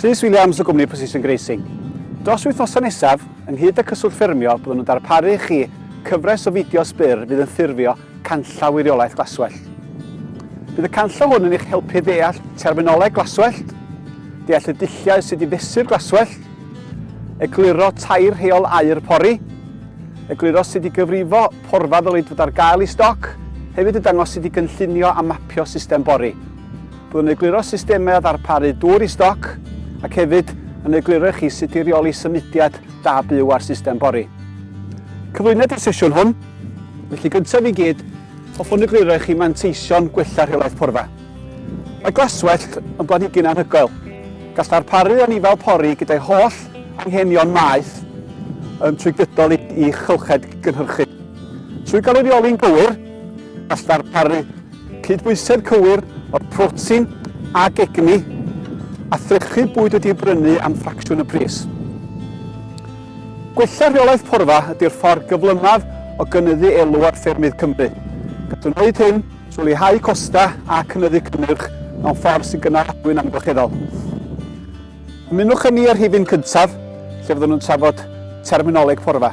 Rhys Williams o gwmni Precision Grazing. Dros wythnosau nesaf, ynghyd â Cyswllt Ffermio, byddwn yn darparu i chi cyfres o fideos byr fydd yn ffurfio canllaw wiriollaeth glaswellt. Bydd y canllaw hwn yn eich helpu ddeall terminoleg glaswellt, deall y dulliau sydd i fesur glaswellt, egluro tair rheol aer pori, egluro sut i gyfrifo Porfa ddylid fod ar gael i stoc, hefyd y dangosid i gynllunio a mapio system bori. Byddwn yn egluro systemau o ddarparu dŵr i stoc ac hefyd yn egluro i chi sut i reoli symudiad da byw ar system bori. Cyflwyniad i'r sesiwn hwn, felly gyntaf i gyd, hoffwn egluro i chi manteision gwella rheolaeth porfa. Mae glaswellt yn blanhigyn anhygoel. Gall ddarparu anifail pori gyda'i holl anghenion maeth yn trwy gydol ei chylched gynhyrchu. Trwy gael ei reoli'n gywir, gall ddarparu cydbwysedd cywir o'r protein ac egni a threchu bwyd wedi'i brynu am ffracsiwn y pris. Gwella rheolaeth porfa ydy'r ffordd gyflymaf o gynyddu elw ar ffermydd Cymru. Gall wneud hyn trwy leihau costau a chynyddu cynnyrch mewn ffordd sy'n gynaladwy'n amgylcheddol. Ymunwch â ni ar rhifyn cyntaf, lle fyddwn yn trafod terminoleg porfa.